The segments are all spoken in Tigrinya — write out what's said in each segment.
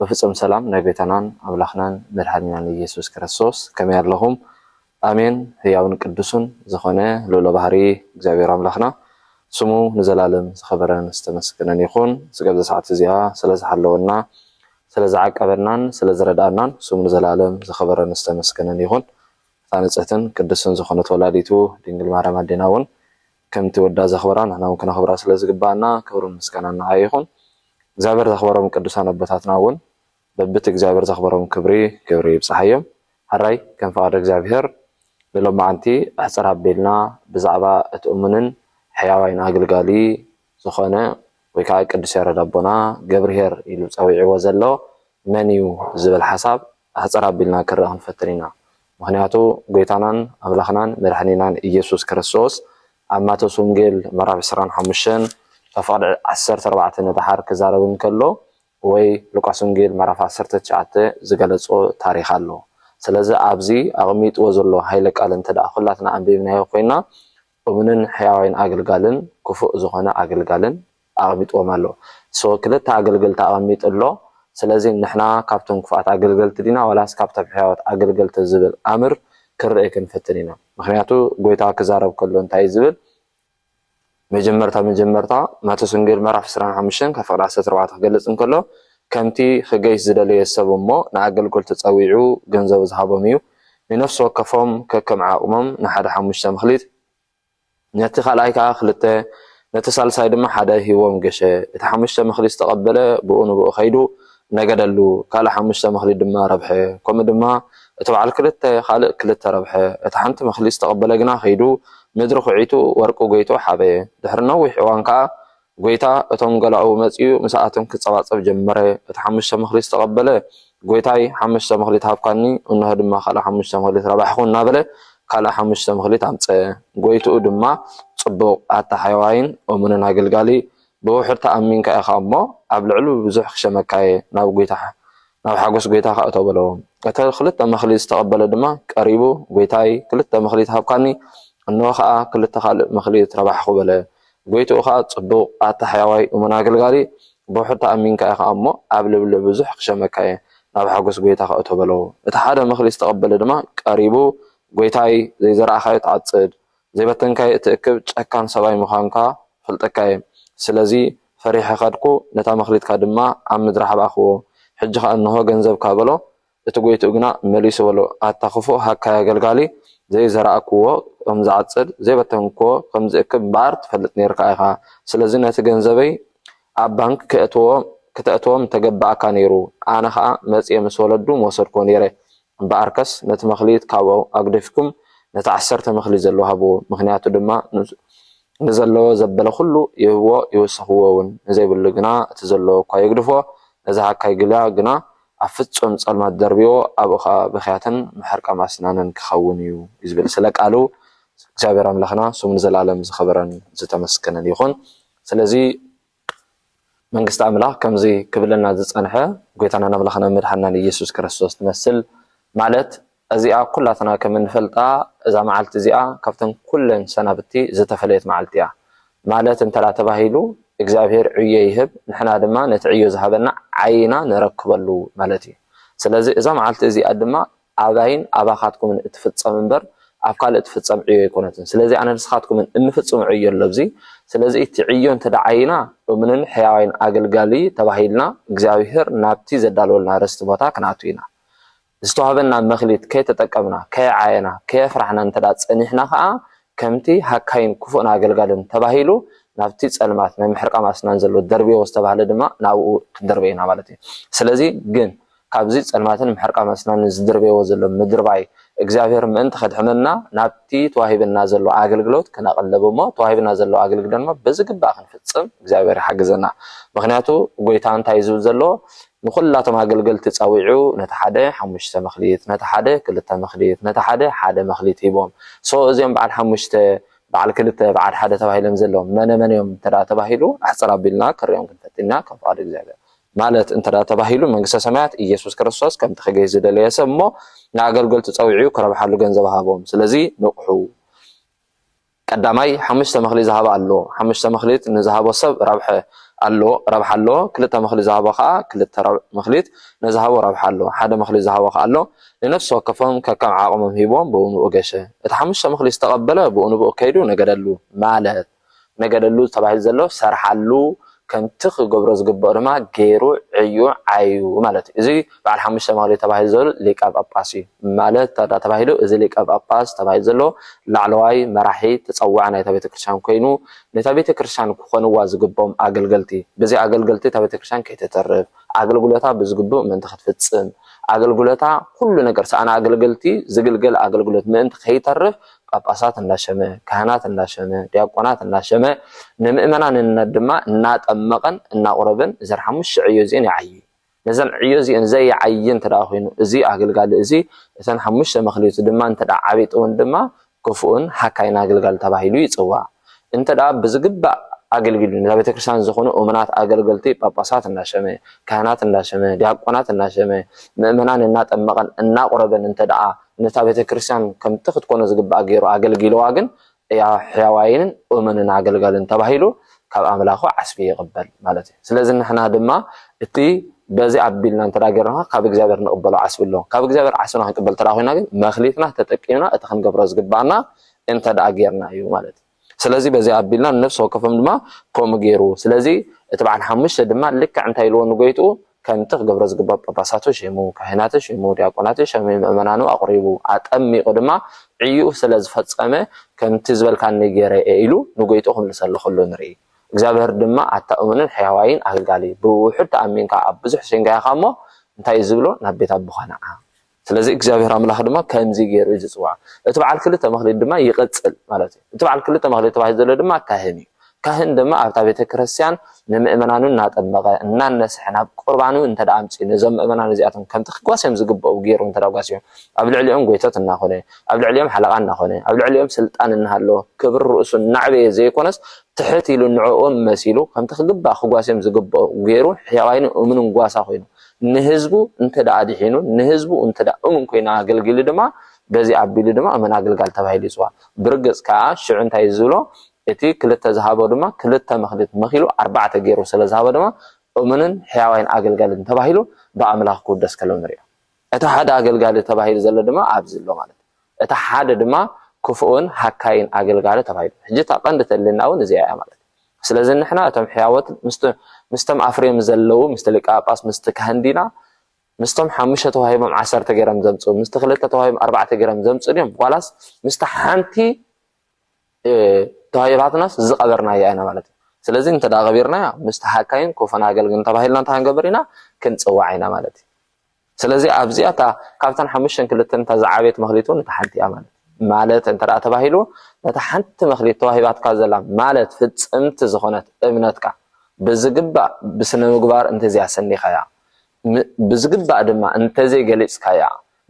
ብፍጹም ሰላም ናይ ጎይታናን ኣምላኽናን መድሓኒናን እየሱስ ክርስቶስ ከመይ ኣለኹም ኣሜን ህያውን ቅዱሱን ዝኾነ ልኡለ ባህሪ እግዚኣብሔር ኣምላኽና ስሙ ንዘላለም ዝኸበረን ዝተመስገነን ይኹን ስጋብ ዘሰዓት እዚኣ ስለ ዝሓለወና ስለ ዝዓቀበናን ስለ ዝረድኣናን ስሙ ንዘላለም ዝኸበረን ዝተመስገነን ይኹን እታ ንጽህትን ቅድስትን ዝኾነት ወላዲቱ ድንግል ማርያም ኣዴና እውን ከምቲ ወዳ ዘኽበራ ንሕና ውን ክነኽብራ ስለ ዝግብኣና ክብርን ምስጋናን ንዓ ይኹን። እግዚኣብሔር ዘኽበሮም ቅዱሳን ኣቦታትና ውን በብቲ እግዚኣብሔር ዘኽበሮም ክብሪ ክብሪ ይብጽሓዮም። ሐራይ ከም ፍቃድ እግዚኣብሔር ንሎምዓንቲ ኣሕጽር ኣቢልና ብዛዕባ እቲ እሙንን ሕያዋይን ኣግልጋሊ ዝኾነ ወይ ከኣ ቅዱስ ያረድ ኣቦና ገብርሄር ኢሉ ጸዊዕዎ ዘሎ መን እዩ ዝብል ሓሳብ ኣሕጽር ኣቢልና ክንርኢ ክንፈትን ኢና። ምክንያቱ ጎይታናን ኣምላክናን መድሕኒናን እየሱስ ክርስቶስ ኣብ ማቴዎስ ወንጌል ምዕራፍ ዕስራን ሓሙሽተን ካብ ፍቅዲ ዓሰርተ ኣርባዕተ ንደሓር ክዛረብ እንከሎ ወይ ሉቃስ ወንጌል ምዕራፍ ዓሰርተ ትሽዓተ ዝገለጾ ታሪክ ኣሎ ስለዚ ኣብዚ ኣቅሚጥዎ ዘሎ ሃይለ ቃል እንተደኣ ኩላትና ኣንቢብናዮ ኮይና እሙንን ሕያዋይን ኣገልጋልን ክፉእ ዝኮነ ኣገልጋልን ኣቐሚጥዎም ኣሎ so ክልተ ኣገልገልቲ ኣቐሚጡ ኣሎ ስለዚ ንሕና ካብቶም ክፉኣት ኣገልገልቲ ዲና ዋላስ ካብቶም ሕያዎት ኣገልገልቲ ዝብል ኣምር ክንርኢ ክንፍትን ኢና ምኽንያቱ ጎይታ ክዛረብ ከሎ እንታይ እዩ ዝብል መጀመርታ መጀመርታ ማቴዎስ ወንጌል ምዕራፍ ዕስራን ሓሙሽተን ካብ ፍቕዲ ዓሰርተ ኣርባዕተ ክገልጽ እንከሎ ከምቲ ክገይሽ ዝደለየ ሰብ እሞ ንኣገልገልቱ ጸዊዑ ገንዘቡ ዝሃቦም እዩ ንነፍሲ ወከፎም ከከም ዓቕሞም ንሓደ ሓሙሽተ መኽሊት ነቲ ካልኣይ ከኣ ክልተ፣ ነቲ ሳልሳይ ድማ ሓደ ሂብዎም ገሸ። እቲ ሓሙሽተ መክሊት ዝተቐበለ ብኡ ንብኡ ከይዱ ነገደሉ፣ ካልእ ሓሙሽተ መክሊት ድማ ረብሐ። ከምኡ ድማ እቲ በዓል ክልተ ካልእ ክልተ ረብሐ። እቲ ሓንቲ መክሊት ዝተቐበለ ግና ከይዱ ምድሪ ኩዒቱ ወርቁ ጎይጡ ሓበየ። ድሕሪ ነዊሕ እዋን ከኣ ጐይታ እቶም ገላኡ መጺኡ ምሳኣቶም ኪጸባጸብ ጀመረ። እቲ ሓሙሽተ መክሊት ዝተቐበለ፣ ጐይታይ፣ ሓሙሽተ መክሊት ሃብካኒ፣ እንሆ ድማ ካልእ ሓሙሽተ መክሊት ረባሕኹ እናበለ ካልእ ሓሙሽተ መክሊት ኣምጸ። ጐይትኡ ድማ፣ ጽቡቕ፣ ኣታ ሕያዋይን እሙንን ኣገልጋሊ፣ ብውሑድ ተኣሚንካ ኢኻ እሞ፣ ኣብ ልዕሊ ብዙሕ ክሸመካ'የ፣ ናብ ጐይታ፣ ናብ ሓጐስ ጐይታኻ እቶ በሎ። እቲ ክልተ መክሊት ዝተቐበለ ድማ ቀሪቡ፣ ጐይታይ፣ ክልተ መክሊት ሃብካኒ፣ እንሆ ኸኣ ክልተ ካልእ መክሊት ረባሕኹ በለ። ጎይትኡ ከኣ ጽዱቅ ኣታ ሕያዋይ እሙን ኣገልጋሊ ብውሑድ ተኣሚንካ ኢካ እሞ ኣብ ልብሊ ብዙሕ ክሸመካ እየ ናብ ሓጎስ ጎይታካ እቶ በለው እቲ ሓደ ምክሪ ዝተቀበለ ድማ ቀሪቡ ጎይታይ ዘይዘራእካዮ ትዓጽድ ዘይበተንካዮ እትእክብ ጨካን ሰብኣይ ምካንካ እፈልጠካ እየ ስለዚ ፈሪሐ ከድኩ ነታ መክሊትካ ድማ ኣብ ምድሪ ሓብኣክዎ ሕጂ ከኣ እንሆ ገንዘብካ በሎ እቲ ጎይትኡ ግና መሊሱ በሎ፣ ኣታ ኽፉእ ሃካይ ኣገልጋሊ፣ ዘይዘራእክዎ ኸም ዝዓጽድ፣ ዘይበተንክዎ ኸም ዝእክብ እምበኣር ትፈልጥ ኔርካ ኢኻ። ስለዚ ነቲ ገንዘበይ ኣብ ባንክ ኬእትዎ ኽተእትዎ ምተገብኣካ ነይሩ፣ ኣነ ኸኣ መጺኤ ምስ ወለዱ ምወሰድክዎ ነይረ። እምበኣርከስ ነቲ መክሊት ካብኡ ኣግዲፍኩም ነቲ ዓሰርተ መክሊት ዘለዎ ሃብዎ፣ ምኽንያቱ ድማ ንዘለዎ ዘበለ ዅሉ ይህብዎ ይውስኽዎውን፣ ንዘይብሉ ግና እቲ ዘለዎ እኳ ይግድፎ። ነዚ ሃካይ ግልያ ግና ኣብ ፍጹም ጸልማት ደርብዎ ኣብኡ ከኣ ብኽያትን ምሕርቃም ኣስናንን ክኸውን እዩ እዩ ዝብል ስለ ቃሉ እግዚኣብሔር ኣምላኽና ስሙ ንዘለዓለም ዝኸበረን ዝተመስገነን ይኹን ስለዚ መንግስቲ ኣምላኽ ከምዚ ክብለና ዝጸንሐ ጎይታናን ኣምላኽናን መድሓንናን ኢየሱስ ክርስቶስ ትመስል ማለት እዚኣ ኩላትና ከም እንፈልጣ እዛ መዓልቲ እዚኣ ካብተን ኩለን ሰናብቲ ዝተፈለየት መዓልቲ እያ። ማለት እንተ ተባሂሉ እግዚኣብሄር ዕዮ ይህብ ንሕና ድማ ነቲ ዕዮ ዝሃበና ዓይና ነረክበሉ ማለት እዩ። ስለዚ እዛ መዓልቲ እዚኣ ድማ ኣባይን ኣባኻትኩምን እትፍጸም እምበር ኣብ ካልእ እትፍጸም ዕዮ ኣይኮነትን። ስለዚ ኣነ ንስኻትኩምን እንፍጽሞ ዕዮ ኣሎ ኣብዚ። ስለዚ እቲ ዕዮ እንተ ዓይና እሙንን ሕያዋይን ኣገልጋሊ ተባሂልና እግዚኣብሄር ናብቲ ዘዳለወልና ርስቲ ቦታ ክንኣቱ ኢና። ዝተዋህበና መክሊት ከይተጠቀምና፣ ከየዓየና፣ ከየፍራሕና እንተ ጸኒሕና ከኣ ከምቲ ሃካይን ክፉእን ኣገልጋልን ተባሂሉ ናብቲ ጸልማት ናይ ምሕርቃም ኣስናን ዘሎ ደርብዮ ዝተባህለ ድማ ናብኡ ክንድርበ ኢና ማለት እዩ። ስለዚ ግን ካብዚ ጸልማትን ምሕርቃም ኣስናንን ዝድርበይዎ ዘሎ ምድርባይ እግዚኣብሔር ምእንቲ ከድሕነና ናብቲ ተዋሂበና ዘሎ ኣገልግሎት ክነቅልብ እሞ ተዋሂብና ዘሎ ኣገልግሎት ድማ ብዝግባእ ክንፍጽም እግዚኣብሔር ይሓግዘና። ምክንያቱ ጎይታ እንታይ እዩ ዝብል ዘሎ ንዅላቶም ኣገልገልቲ ጸዊዑ፣ ነቲ ሓደ ሓሙሽተ መክሊት፣ ነቲ ሓደ ክልተ መክሊት፣ ነቲ ሓደ ሓደ መክሊት ሂቦም። so እዚኦም በዓል ሓሙሽተ፣ በዓል ክልተ፣ በዓል ሓደ ተባሂሎም ዘለዉ መነ መን እዮም እንተ ተባሂሉ፣ ኣሕጽር ኣቢልና ክንርእዮም ክንፈትን ኢና፣ ከም ፍቓድ እግዚኣብሔር። ማለት እንተ ተባሂሉ፣ መንግስተ ሰማያት ኢየሱስ ክርስቶስ ከምቲ ክገይሽ ዝደለየ ሰብ እሞ ንኣገልገልቱ ጸዊዑ ክረብሓሉ ገንዘብ ሃቦም። ስለዚ ንቕሑ። ቀዳማይ ሓሙሽተ ምክሊ ዝሃበ ኣሎ ሓሙሽተ ምክሊት ንዝሃቦ ሰብ ረብሐ ኣሎ ረብሓ ኣሎ ክልተ ምክሊ ዝሃቦ ከኣ ክልተ ረብዕ ምክሊት ነዝሃቦ ረብሓ ኣሎ ሓደ ምክሊ ዝሃቦ ከኣ ኣሎ ንነፍሲ ወከፎም ከከም ዓቅሞም ሂቦም ብኡንብኡ ገሸ እቲ ሓሙሽተ ምክሊ ዝተቀበለ ብኡንብኡ ከይዱ ነገደሉ ማለት ነገደሉ ተባሂሉ ዘሎ ሰርሓሉ ከምቲ ክገብሮ ዝግበኦ ድማ ገይሩ ዕዩ ዓዩ ማለት እዩ። እዚ በዓል ሓሙሽተ መክሊት ተባሂሉ ዘሎ ሊቀ ጳጳስ እዩ። ማለት እንተድኣ ተባሂሉ እዚ ሊቀ ጳጳስ ተባሂሉ ዘሎ ላዕለዋይ መራሒ ተጸዋዒ ናይታ ቤተ ክርስቲያን ኮይኑ ነታ ቤተ ክርስቲያን ክኾንዋ ዝግብኦም ኣገልገልቲ ብዘይ ኣገልገልቲ እታ ቤተ ክርስቲያን ከይተተርፍ ኣገልግሎታ ብዝግብእ ምእንቲ ክትፍጽም ኣገልግሎታ ኩሉ ነገር ሰኣን ኣገልገልቲ ዝግልገል ኣገልግሎት ምእንቲ ከይተርፍ ጳጳሳት እንዳሸመ፣ ካህናት እንዳሸመ፣ ዲያቆናት እንዳሸመ ንምእመናንነት ድማ እናጠመቐን እናቑረበን እዘን ሓሙሽተ ዕዮ እዚኤን ይዓዪ። ነዘን ዕዮ እዚኤን ዘይዓዪ እንተደኣ ኮይኑ እዚ ኣገልጋሊ እዚ እተን ሓሙሽተ መክሊቱ ድማ እንተደኣ ዓቢጥወን ድማ ክፉእን ሃካይን ኣገልጋሊ ተባሂሉ ይጽዋዕ። እንተ ብዝግባእ ኣገልጊሉ ነዛ ቤተ ክርስቲያን ዝኾኑ እሙናት ኣገልገልቲ ጳጳሳት እናሸመ፣ ካህናት እንዳሸመ፣ ዲያቆናት እናሸመ፣ ምእመናን እናጠመቐን እናቑረበን እንተ ነታ ቤተ ክርስቲያን ከምቲ ክትኮኖ ዝግባኣ ገይሩ ኣገልጊልዋ ግን ሕያዋይንን እሙንን ኣገልጋልን ተባሂሉ ካብ ኣምላኹ ዓስቢ ይቕበል ማለት እዩ ስለዚ ንሕና ድማ እቲ በዚ ኣቢልና እንተ ገርና ካብ እግዚኣብሔር ንቕበሎ ዓስቢ ኣሎ ካብ እግዚኣብሔር ዓስብና ክንቅበል ተዳ ኮይና ግን መክሊትና ተጠቂምና እቲ ክንገብሮ ዝግባኣና እንተ ደኣ ጌርና እዩ ማለት እዩ። ስለዚ በዚ ኣቢልና ንነፍሲ ወከፎም ድማ ከምኡ ገይሩ። ስለዚ እቲ በዓል ሓሙሽተ ድማ ልክዕ እንታይ ኢልዎ ንጎይትኡ ከምቲ ክገብሮ ዝግባእ ጳጳሳቱ ሸይሙ፣ ካህናቱ ሸይሙ፣ ዲያቆናቱ ሸይሙ፣ ምእመናኑ ኣቑሪቡ፣ ኣጠሚቑ ድማ ዕዩኡ ስለ ዝፈጸመ ከምቲ ዝበልካኒ ገይረ እየ ኢሉ ንጎይትኡ ክምልሰሉ ከሎ ንርኢ። እግዚኣብሔር ድማ ኣታ እሙንን ሕያዋይን ኣገልጋሊ ብውሑድ ተኣሚንካ ኣብ ብዙሕ ሴንጋያኻ እሞ እንታይ እዩ ዝብሎ ናብ ቤት ኣቦኻ ንዓ። ስለዚ እግዚኣብሔር ኣምላኽ ድማ ከምዚ ገይሩ እዩ ዝጽውዓ። እቲ በዓል ክልተ መክሊት ድማ ይቕጽል ማለት እዩ። እቲ በዓል ክልተ መክሊት ተባሂሉ ዘሎ ድማ ካህን እዩ። ካህን ድማ ኣብታ ቤተ ክርስቲያን ንምእመናኑ እናጠመቐ እናነስሐ ናብ ቁርባኑ እንተ ኣምፅኡ ነዞም ምእመናን እዚኣቶም ከምቲ ክጓስዮም ዝግብኡ ገይሩ እንተ ጓስዮም ኣብ ልዕሊኦም ጎይቶት እናኾነ ኣብ ልዕሊኦም ሓለቓ እናኾነ ኣብ ልዕሊኦም ስልጣን እናሃለዎ ክብሪ ርእሱ እናዕበየ ዘይኮነስ ትሕት ኢሉ ንዕኦም መሲሉ ከምቲ ክግባእ ክጓስዮም ዝግብኦ ገይሩ ሕያዋይን እሙንን ጓሳ ኮይኑ ንህዝቡ እንተ ኣድሒኑ ንህዝቡ እንተ እሙን ኮይኑ ኣገልጊሉ ድማ በዚ ኣቢሉ ድማ እመን ኣግልጋል ተባሂሉ ይጽዋዕ። ብርግጽ ከኣ ሽዑ እንታይ እዩ ዝብሎ እቲ ክልተ ዝሃቦ ድማ ክልተ መኽሊት መኺሉ ኣርባዕተ ገይሩ ስለ ዝሃቦ ድማ እሙንን ሕያዋይን ኣገልጋልን ተባሂሉ ብኣምላኽ ክውደስ ከሎ ንርእዮ። እቲ ሓደ ኣገልጋሊ ተባሂሉ ዘሎ ድማ ኣብዚ ኣሎ ማለት እዩ። እታ ሓደ ድማ ክፉእን ሃካይን ኣገልጋሊ ተባሂሉ። ሕጂ እታ ቀንዲ እተድልየና እውን እዚኣ ኢያ ማለት ኢዩ። ስለዚ ንሕና እቶም ሕያዎት ምስቲ ምስቶም ኣፍርዮም ዘለዉ ምስቲ ሊቀ ጳጳስ ምስቲ ካህን ዲና ምስቶም ሓሙሽተ ተዋሂቦም ዓሰርተ ገይሮም ዘምጽኡ ምስቲ ክልተ ተዋሂቦም ኣርባዕተ ገይሮም ዘምጽኡ ድዮም ዋላስ ምስቲ ሓንቲ ተዋሂባትናስ ዝቐበርናያ ኢና ማለት እዩ። ስለዚ እንተ ቀቢርናያ ምስቲ ሃካይን ክፉእን ኣገልግልን ተባሂልና እንተ ክንገብር ኢና ክንጽዋዕ ኢና ማለት እዩ። ስለዚ ኣብዚኣ እታ ካብተን ሓሙሽተን ክልተን እታ ዝዓበየት መክሊት እውን እታ ሓንቲ እያ ማለት እዩ። ማለት እንተ ተባሂሉ ነታ ሓንቲ መክሊት ተዋሂባትካ ዘላ ማለት ፍጽምቲ ዝኾነት እምነትካ ብዝግባእ ብስነ ምግባር እንተዘይ ኣሰኒኻያ ብዝግባእ ድማ እንተዘይ ገሊጽካያ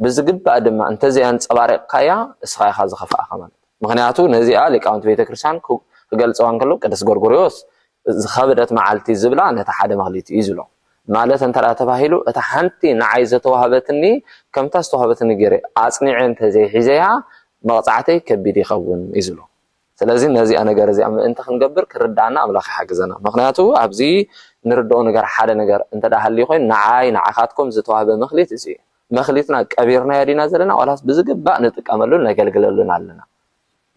ብዝግባእ ድማ እንተዘይ ኣንጸባሪቕካያ እስኻ ኢኻ ዝኸፍኣኻ ማለት ምክንያቱ ነዚኣ ሊቃውንቲ ቤተ ክርስቲያን ክገልጸዋ እንከሎ ቅዱስ ጎርጎርዮስ ዝኸበደት መዓልቲ ዝብላ ነቲ ሓደ መክሊት እዩ ዝብሎ። ማለት እንተ ተባሂሉ እታ ሓንቲ ንዓይ ዘተዋህበትኒ ከምታ ዝተዋህበትኒ ገይረ ኣጽኒዐ እንተ ዘይሒዘያ መቕጻዕተይ ከቢድ ይኸውን እዩ ዝብሎ። ስለዚ ነዚኣ ነገር እዚኣ ምእንቲ ክንገብር ክርድኣና ኣምላኽ ይሓግዘና። ምኽንያቱ ኣብዚ ንርድኦ ነገር ሓደ ነገር እንተ ሃልዩ ኮይኑ ንዓይ ንዓኻትኩም ዝተዋህበ መክሊት እዚ እዩ። መክሊትና ቀቢርናዮ ዲና ዘለና ዋላስ ብዝግባእ ንጥቀመሉን ነገልግለሉን ኣለና?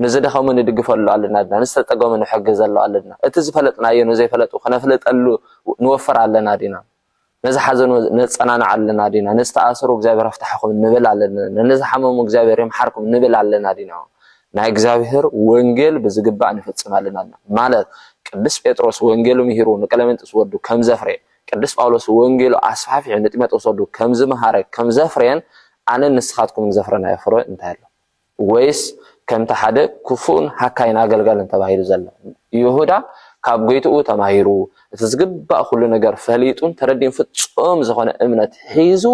ንዝደኸሙ ንድግፈሉ ኣለናድና፣ ንዝተጸገሙ ንሕግዘሉ ኣለድና፣ እቲ ዝፈለጥናዮ ንዘይፈለጡ ክነፍልጠሉ ንወፍር ኣለና ዲና፣ ንዝሓዘኑ ነጸናንዕ ኣለና ዲና፣ ንዝተኣሰሩ እግዚኣብሔር ኣፍታሕኹም ንብል ኣለድና፣ ንዝሓመሙ እግዚኣብሔር ይምሓርኩም ንብል ኣለና ዲና። ናይ እግዚኣብሔር ወንጌል ብዝግባእ ንፍጽም ኣለናድና፣ ማለት ቅዱስ ጴጥሮስ ወንጌሉ ምሂሩ ንቀለሜንጦስ ወዱ ከም ዘፍረየ፣ ቅዱስ ጳውሎስ ወንጌሉ ኣስፋሕፊሑ ንጢሞቴዎስ ወዱ ከም ዝመሃረ ከም ዘፍረየን ኣነን ንስኻትኩምን ዘፍረናዮ ፍረ እንታይ ኣሎ? ወይስ ከምቲ ሓደ ክፉእን ሃካይን ኣገልጋልን ተባሂሉ ዘሎ፣ ይሁዳ ካብ ጐይትኡ ተማሂሩ፣ እቲ ዝግባእ ኵሉ ነገር ፈሊጡን ተረዲኡን ፍጹም ዝዀነ እምነት ሒዙ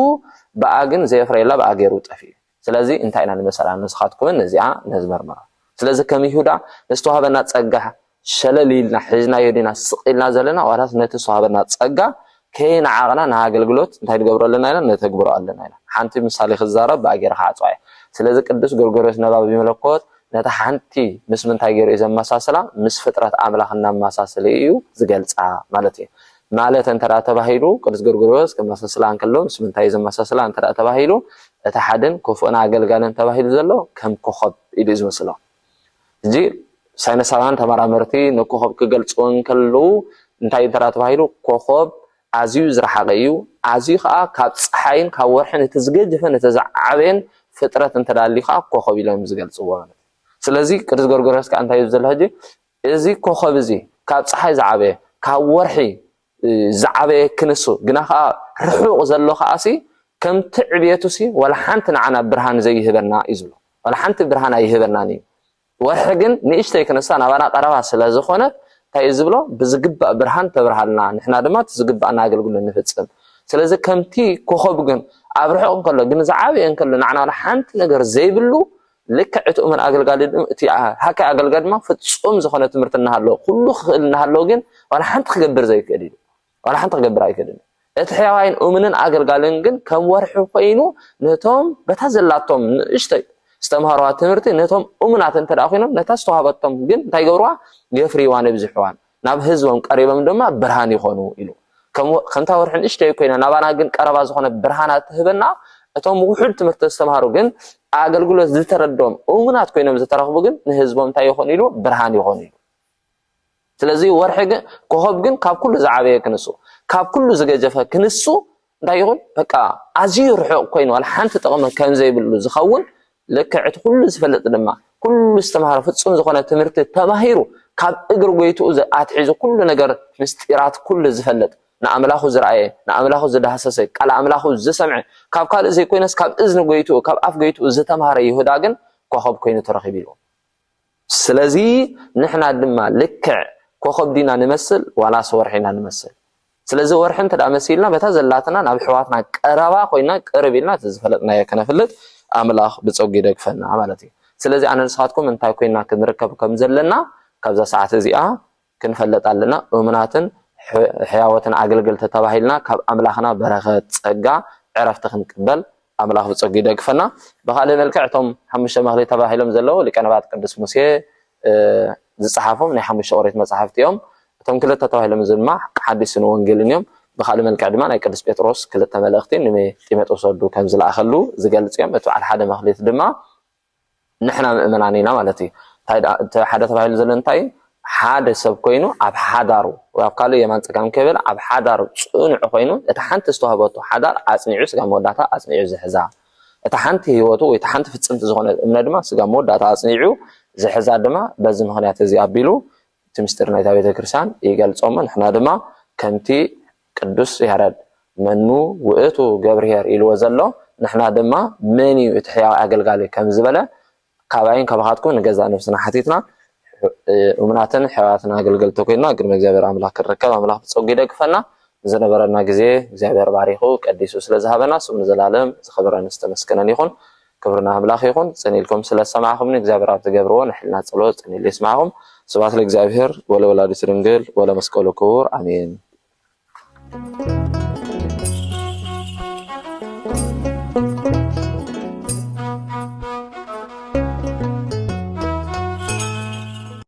ብኣ ግን ዘየፍረየላ ብኣ ገይሩ ጠፊኡ እዩ። ስለዚ እንታይ ኢና ንመሰላ ንስኻትኩምን ነዚኣ ነዚ መርምራ። ስለዚ ከም ይሁዳ ንዝተዋህበና ጸጋ ሸለል ኢልና ሒዝናዮ ዲና ስቕ ኢልና ዘለና ዋላስ ነቲ ዝተዋህበና ጸጋ ከይነዓቕና ንኣገልግሎት እንታይ ንገብሮ ኣለና ኢና ነተግብሮ ኣለና ኢና ሓንቲ ምሳሌ ክዛረብ ብኣ ጌረ ክዓጽዋ እየ ስለዚ ቅዱስ ጎርጎርዮስ ነባቢ መለኮት ነታ ሓንቲ ምስ ምንታይ ጌሩ እዩ ዘመሳስላ ምስ ፍጥረት ኣምላኽ እናመሳሰለ እዩ ዝገልጻ ማለት እዩ ማለት እንተ ተባሂሉ ቅዱስ ጎርጎርዮስ ከመሳስላ እንከሎ ምስ ምንታይ ዘመሳስላ እንተ ተባሂሉ እቲ ሓድን ክፉእን ኣገልጋልን ተባሂሉ ዘሎ ከም ኮኸብ ኢሉ እዩ ዝምስሎ። ሕጂ ሳይነሳውያን ተመራመርቲ ንኮኾብ ክገልጹ እንከለዉ እንታይ እዩ እንተ ተባሂሉ ኮኾብ ኣዝዩ ዝረሓቐ እዩ፣ ኣዝዩ ከኣ ካብ ጸሓይን ካብ ወርሕን እቲ ዝገጀፈን እቲ ዝዓበየን ፍጥረት እንተ ኣልዩ ከኣ ኮኾብ ኢሎም ዝገልጽዎ ማለት እዩ። ስለዚ ቅዱስ ጎርጎርዮስ ከኣ እንታይ እዩ ዝብል ሕጂ እዚ ኮኾብ እዚ ካብ ጸሓይ ዝዓበየ ካብ ወርሒ ዝዓበየ ክንሱ ግና ከኣ ርሑቕ ዘሎ ከኣሲ ከምቲ ዕብየቱሲ ዋላ ሓንቲ ንዓና ብርሃን ዘይህበና እዩ ዝብሎ ዋላ ሓንቲ ብርሃን ኣይህበናን እዩ ወርሒ ግን ንእሽተይ ክንሳ ናባና ቀረባ ስለ ዝኾነት እንታይ እዩ ዝብሎ ብዝግባእ ብርሃን ተብርሃልና ንሕና ድማ እቲ ዝግባእና ኣገልግሎት ንፍጽም ስለዚ ከምቲ ኮኸብ ግን ኣብ ርሑቕ እንከሎ ግን ዝዓበየ እንከሎ ንዓና ዋላ ሓንቲ ነገር ዘይብሉ ልክዕ እቲ እሙን ኣገልጋሊ ድም እቲ ሓካይ ኣገልጋሊ ድማ ፍጹም ዝኾነ ትምህርቲ እናሃለዎ ኩሉ ክኽእል እናሃለዎ ግን ዋላ ሓንቲ ክገብር ዘይክእል እዩ ዋላ ሓንቲ ክገብር ኣይክእልን እዩ እቲ ሕያዋይን እሙንን ኣገልጋልን ግን ከም ወርሒ ኮይኑ ነቶም በታ ዘላቶም ንእሽተይ ዝተምሃርዋ ትምህርቲ ነቶም እሙናት እንተ ኮይኖም ነታ ዝተዋህበቶም ግን እንታይ ገብርዋ የፍርይዋን የብዝሕዋን ናብ ህዝቦም ቀሪቦም ድማ ብርሃን ይኾኑ ኢሉ። ከምታ ወርሒ ንእሽተይ ኮይና ናባና ግን ቀረባ ዝኾነ ብርሃና እትህበና እቶም ውሑድ ትምህርቲ ዝተምሃሩ ግን ኣገልግሎት ዝተረድኦም እሙናት ኮይኖም ዝተረኽቡ ግን ንህዝቦም እንታይ ይኾኑ ኢሉ ብርሃን ይኾኑ ኢሉ ስለዚ ወርሒ ግን ኮኸብ ግን ካብ ኩሉ ዝዓበየ ክንሱ ካብ ኩሉ ዝገጀፈ ክንሱ እንታይ ይኹን በቃ ኣዝዩ ርሑቕ ኮይኑ ዋላ ሓንቲ ጥቕሚ ከም ዘይብሉ ዝኸውን ልክዕ እቲ ኩሉ ዝፈልጥ ድማ ኩሉ ዝተምሃረ ፍጹም ዝኾነ ትምህርቲ ተማሂሩ ካብ እግሪ ጎይትኡ ኣትሒዙ ኩሉ ነገር ምስጢራት ኩሉ ዝፈልጥ ንኣምላኹ ዝረኣየ ንኣምላኹ ዝዳህሰሰ ቃል ኣምላኹ ዝሰምዐ ካብ ካልእ ዘይኮይነስ ካብ እዝኒ ጎይትኡ ካብ ኣፍ ጎይትኡ ዝተምሃረ ይሁዳ ግን ኮኸብ ኮይኑ ተረኺቡ ኢልዎም ስለዚ ንሕና ድማ ልክዕ ኮኾብ ዲና ንመስል ዋላስ ወርሒ ኢና ንመስል? ስለዚ ወርሒ እንተ መሲልና በታ ዘላትና ናብ ኣሕዋትና ቀረባ ኮይና ቅርብ ኢልና እቲ ዝፈለጥናዮ ከነፍልጥ ኣምላኽ ብጸጉ ይደግፈና ማለት እዩ። ስለዚ ኣነ ንስኻትኩም እንታይ ኮይና ክንርከብ ከም ዘለና ካብዛ ሰዓት እዚኣ ክንፈልጥ ኣለና እሙናትን ሕያዎትን ኣገልገልቲ ተባሂልና ካብ ኣምላኽና በረኸት ጸጋ ዕረፍቲ ክንቅበል ኣምላኽ ብጸጉ ይደግፈና ብኻልእ መልክዕ እቶም ሓሙሽተ መኽሊት ተባሂሎም ዘለዉ ሊቀነባት ቅዱስ ሙሴ ዝጸሓፎም ናይ ሓሙሽተ ኦሪት መጻሕፍቲ እዮም እቶም ክልተ ተባሂሎም ድማ ሓዲስን ወንጌልን እዮም ብካልእ መልክዕ ድማ ናይ ቅዱስ ጴጥሮስ ክልተ መልእኽቲ ንጢሞጥሮስ ወዱ ከም ዝለኣኸሉ ዝገልጽ እዮም እቲ በዓል ሓደ መኽሊት ድማ ንሕና ምእመናን ኢና ማለት እዩ። እንታይ ደኣ እቲ ሓደ ተባሂሉ ዘሎ እንታይ እዩ? ሓደ ሰብ ኮይኑ ኣብ ሓዳሩ ወይ ኣብ ካልእ የማን ጸጋም ከይበለ ኣብ ሓዳሩ ጽኑዕ ኮይኑ እታ ሓንቲ ዝተዋህበቶ ሓዳር ኣጽኒዑ ስጋ መወዳእታ ኣጽኒዑ ዝሕዛ እታ ሓንቲ ህይወቱ ወይ እታ ሓንቲ ፍጽምቲ ዝኾነት እምነ ድማ ስጋ መወዳእታ ኣጽኒዑ ዝሕዛ ድማ በዚ ምኽንያት እዚ ኣቢሉ እቲ ምስጢር ናይታ ቤተ ክርስቲያን ይገልጾ እሞ ንሕና ድማ ከምቲ ቅዱስ ያረድ መኑ ውእቱ ገብርኄር ኢልዎ ዘሎ ንሕና ድማ መን እዩ እቲ ሕያው ኣገልጋሊ ከምዝበለ ካባይን ካባኻትኩምን ንገዛእ ነፍስና ሓቲትና እሙናትን ሕያዋትን ኣገልገልቲ ኮይንና ቅድሚ እግዚኣብሔር ኣምላክ ክንርከብ ኣምላክ ብጸጉ ይደግፈና ንዝነበረና ግዜ እግዚኣብሔር ባሪኹ ቀዲሱ ስለዝሃበና ስሙ ንዘላለም ዝኸበረን ዝተመስገነን ይኹን ክብሪ ንኣምላኽ ይኹን ጽን ኢልኩም ስለ ዝሰማዕኹምኒ እግዚኣብሔር ኣብ ትገብርዎ ናይ ሕልና ጸሎት ጽን ኢሉ የስማዕኹም ስብሐት ለእግዚኣብሔር ወለወላዲቱ ድንግል ወለመስቀሉ ክቡር ኣሜን።